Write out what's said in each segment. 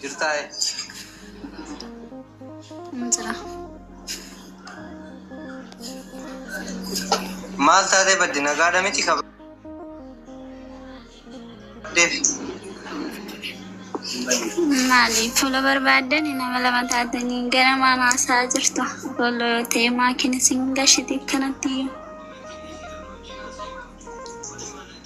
Jirtaa ee. Hin jira. Maal taatee badde nagaadha miti kaba. Deef. Maali fuula barbaadan nama lama taatanii gara mana haasaa jirtu. Boollo yoo ta'e maakiin isin gashiti kanatti iyyuu.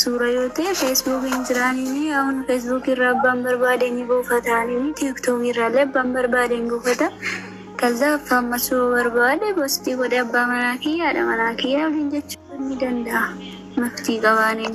Suura yoo ta'e Facebook hin jiraanini aun Facebook irraa abbaan barbaade ni buufata anini TikTok irraa illee abbaan barbaade hin buufata kalza affaan masuu barbaade bostii godhe abbaa manaa kiyya haadha manaa kiyya waliin jechuu ni danda'a maftii qabaanin.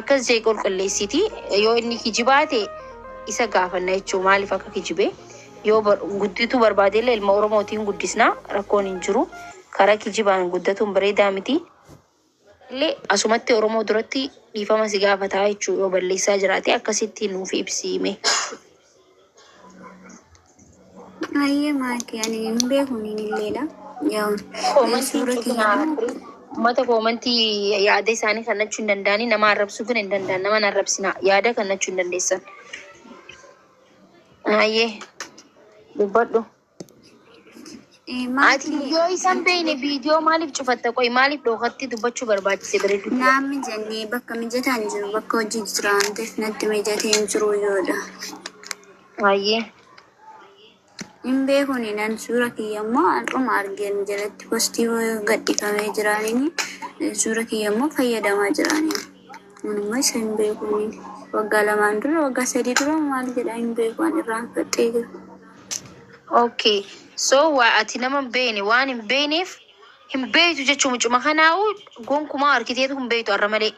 Akkas jee qulqulleessiti yoo inni kijibaa ta'e isa gaafanna jechuu maaliif akka kijibe yoo bar- guddituu barbaade illee ilma oromootiin guddisna rakkoon hin jiru karaa kijibaan guddatuun bareedaa miti illee asumatti oromoo duratti dhiifama si gaafataa jechuu yoo balleessaa jiraate akkasitti nuuf ibsiime Ayyee maatii ani hin beeku niin illeedha. Yoo Koomantii suura kiyya cufinaa immoo argee uummata koomantii yaada isaanii kannachuu hin danda'anii nama arrabsuu kan hin danda'an nama hin arrabsinaa yaada kannachuu hin dandeessan. Ayyee dubbadhu. Ati yoo isan beeyne viidiyoo maaliif cufatta? Qoy maaliif dhookatti dubbachuu barbaachise bareedu? Naan mijanne bakka mijataa hin jiru bakka hojii jira waan ta'eef natti mijatee hin jiru yoodha. Baay'ee. Hin beekuni nan suura kiyya immoo har'uma argeen jalatti postii gadhifamee jiraaniin suura kiyya immoo fayyadamaa jiraaniin. Anumma isa hin beekuni. Waggaa lamaan dura waggaa sadii dura maal jedha hin beeku an irraanfadhee jira. ok so waa ati nama hin beeyne waan hin beeyneef hin beeytu jechuu mucuma kanaa'u gonkumaa arkiteetu hin beeytu arra malee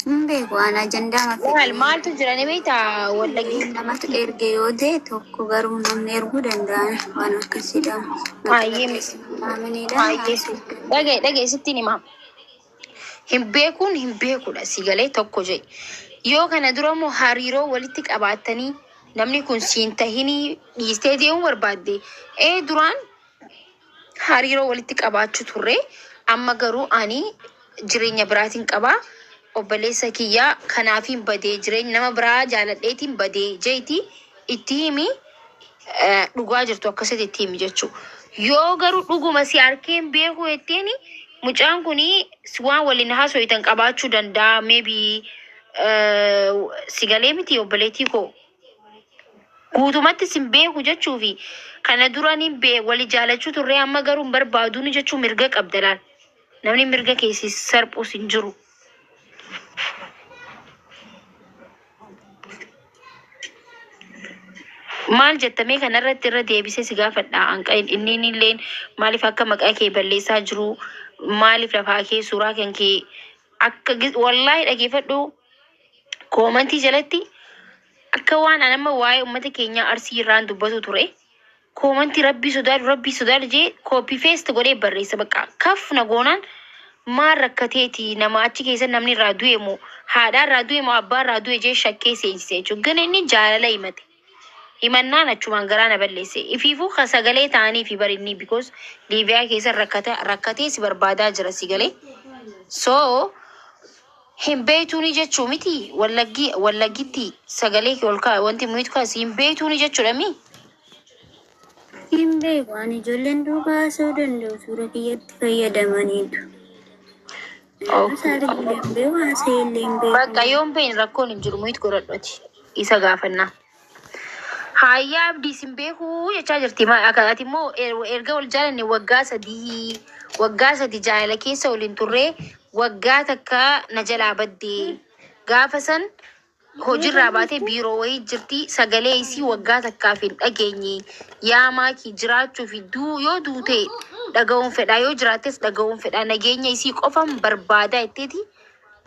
Hin beeku aan ajandaa maal mafi maaltu jira ni beeyta wallagii Namni namatu erge yoo ta'e tokko garuu namni erguu danda'an waan akkasiidha. Baay'ee miti. Maaminidha. baay'ee dhagaye dhagaye sittiin himaa Hin beekuun hin beekudha si galee tokko jedhi. Yoo kana dura immoo hariiroo walitti qabaattanii namni kun siin tahinii dhiistee deemuu barbaadde ee duraan hariiroo walitti qabaachuu turre amma garuu ani jireenya biraatiin qabaa obboleessa kiyyaa kanaafiin badee jireenya nama biraa jaaladheetiin badee jeeti itti himi. dhugaa jirtu akkasitti itti himi jechuu yoo garuu dhuguma si arkeen beekuu jetteen mucaan kun waan waliin haasoftan qabaachuu danda'a maybe si galee miti obboleettii koo guutumatti sin beeku jechuu fi kana duraan hin bee wali jaalachuu turree amma garuu hin barbaaduun jechuu mirga qabda laal namni mirga keessi sarphus hin jiru. Maal jetta mee kanarratti irra deebisee si gaafadha. Anqa inni illeen maaliif akka maqaa kee balleessaa jiru maaliif lafaa kee suuraa kan kee akka gi- wallaahi dhageeffadhu koomantii jalatti akka waan an amma waa'ee uummata keenyaa arsii irraan dubbatu ture Comment rabbii sodaadhu rabbii sodaadhu jee copy paste godhee barreessa baqqa kaf na goonaan maal rakkateeti nama achi keessa namni irraa du'e moo haadhaa irraa du'e moo abbaa irraa du'e jee shakkee seensise jechuudha gana inni jaalala himate himannaan achumaan garaa na balleesse ifiifuu ka sagalee ta'anii fi barinni because liiviyaa keessa rakkata rakkatee si barbaadaa jira si galee so Hin beeytuunii jechuu mitii wallaggii wallaggitti sagalee kee ol kaa'i wanti mute kaasi hin beeytuunii jechuudha mii. Hin beeku ani ijoolleen duuba haasa'uu danda'u suura kiyyatti fayyadamaniitu. Naannoo Okay. isaa illee hin beeku haasa'ee illee hin beeku. Bakka yoon beeyne rakkoon hin jiru mute godhadhu ati isa gaafannaa. Haayyaa abdii sin beekuu jechaa jirti. Ma- akka- Ati immoo er- erga wal jaalanne waggaa sadii waggaa sadi jaalala keessa waliin turre waggaa takka na jalaa baddee gaafa san hojiirraa baatee biiroo wayii jirti sagalee isii waggaa takkaaf hin dhageenye yaa maakii jiraachuu fi duu yoo duute dhaga'uun fedhaa yoo jiraattes dhaga'uun fedhaa nageenya isii qofan barbaadaa itteeti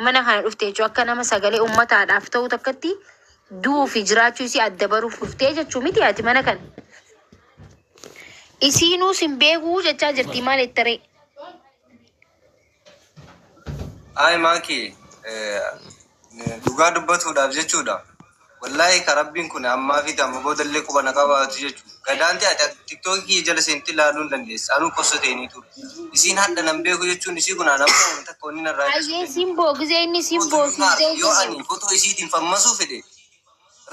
mana kana dhufte jechuudha akka nama sagalee uummataadhaaf ta'u takkatti Du'uu fi jiraachuu isii adda baruuf dhuftee jechuu miti ati mana kan. Isiinuu sin beekuu jechaa jirti maal ittaree. Ayi maaki dhugaa dubbatuudhaaf jechuudha. Wallaahi ka rabbiin kun ammaa fi amma boodallee quba na qabaatu jechuudha. Gadaanti ati ati tiktoki kiyya jala sente laalun dandeessa anuu kosso teeni ture isiin hadha nan beeku jechuun isii kun ana moo wan takka wanni narraa Ayyee dhisuu dandeessa simboo gizee inni simboo Foto hin maarre simboo yoo gizee. ani foto isiitiin fammasuu fedhe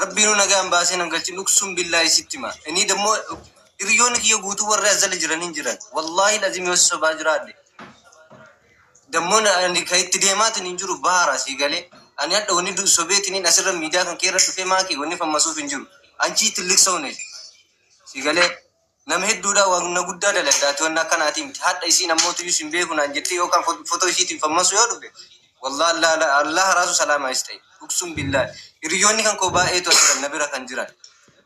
rabbiinuu nagaan baasee nan galchin uksuun billaahi sitti hima inii dammoo hiriyoonni kiyya guutuu warri as jala jiran hin jiran wallaahil azim yoo si sobaa jiraadhe Dammoon ani kan itti deemaatiin hin jiru baara sii galee. Ani hadha wanni du- sobeetiniin asirra miidiyaa kan keerra dhufee maakii wanni fammasuuf hin jiru. Anchii tilliqsoone sii galee. Nama hedduudhaa wanna guddaa daladhaati wanna akkanaatii miti. Hadha isiin ammootuyyuu sin beeku naan jettee yookaan fo- fotoo isiitiin fammasu yoo dhufe wallaah Allah Allah Allah haraasu salaamaa is ta'e. Uksum billaah. Hiriyyoonni kan koo baay'eetu asirra na bira kan jiran.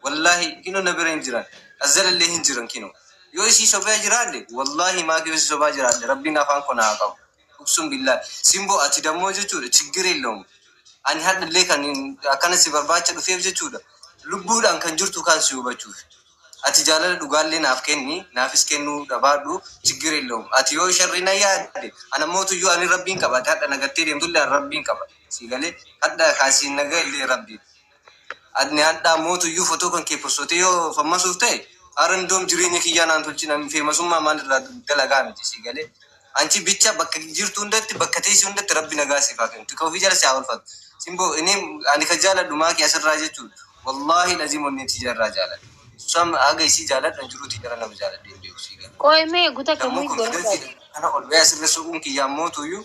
Wallahi kino na bira hin jiran azzalallee hin jiran kino yoo isii sobee jiraadhe wallahi maaki yoo isii sobaa jiraadhe rabbiin afaan ko na haa qabu uksun billahi simbo ati dammoo jechuudha chiggir yellawm ani hadhallee kan akkana si barbaacha dhufeef jechuudha lubbuudhaan kan jirtu kaan si hubachuuf ati jaalala dhugaallee naaf kenni naafis kennuu dhabaadhu chiggir yellawm ati yoo sharri na yaadde ana mootuyyuu ani rabbiin qaba ati hadha nagattee deemtullee an rabbiin qaba si galee hadha kaasiin naga illee rabbiin Adni hadhaa mootu iyyuu fotoo kan kee possotee yoo fammasuuf ta'e ara indoom jireenya kiyyaa naan tolchin an feemasummaa maal irraa dalagaa miti sii galee anchi bicha bakka jirtu hundatti bakka teesse hundatti rabbi nagaa siif haa kennu tika ofii jala si haa olfatu simboo ini ani ka jaaladhu maaki asirraa jechuun wallaahi laziim onnee tiyya irraa jaaladha Sam haga isii jaaladhu an jiruu tiyya irra nama jaaladhee hin beeku sii galee Qoy mee guta kee sammuu mui gora confidence dha. kana ol ba'ee asirra soquun kiyyaa mootu iyyuu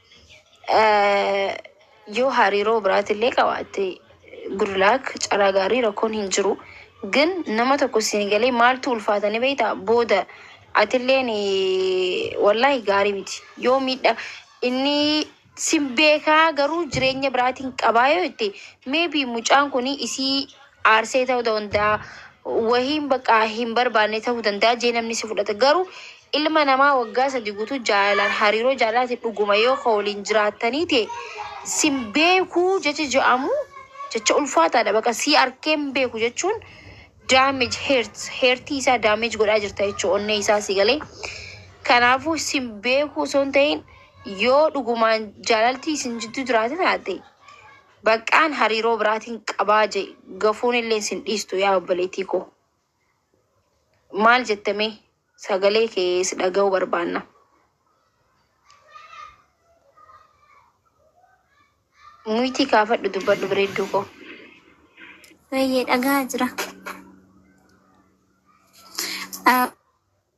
Yoo hariiroo biraatillee qabaatte good luck carraa gaarii rakkoon hin jiru. Gin nama tokko siin galee maaltu ulfaata ni beektaa booda atilleen wallahi gaarii miti. Yoo miidha inni sin beekaa garuu jireenya biraatiin qabaa yoo jette maybe mucaan kun isii aarsee ta'uu danda'a, wahiin bakka hin barbaanne ta'uu danda'a jee namni si fudhata. Garuu ilma namaa waggaa sadi guutuu jaalalaan hariiroo jaalalaati dhuguma yoo ka waliin jiraattanii ta'e sin beekuu jecha ja'amu jecha ulfaataadha baqa si arkee hin beeku jechuun damage hurts heertii isaa damage godhaa jirta jechuu onnee isaa si galee. Kanaafuu sin beekuu osoo hin ta'in yoo dhugumaan jaalaltii isin jidduu jiraate taate Baqqaan hariiroo biraatiin qabaa je gafuun illeen sin dhiistu yaa obboleettii koo. Maal jette mee sagalee kee si dhaga'uu barbaanna. Muytii kaafadhu dubbadhu bareedduu koo. Baay'ee dhagaa jira. Ah,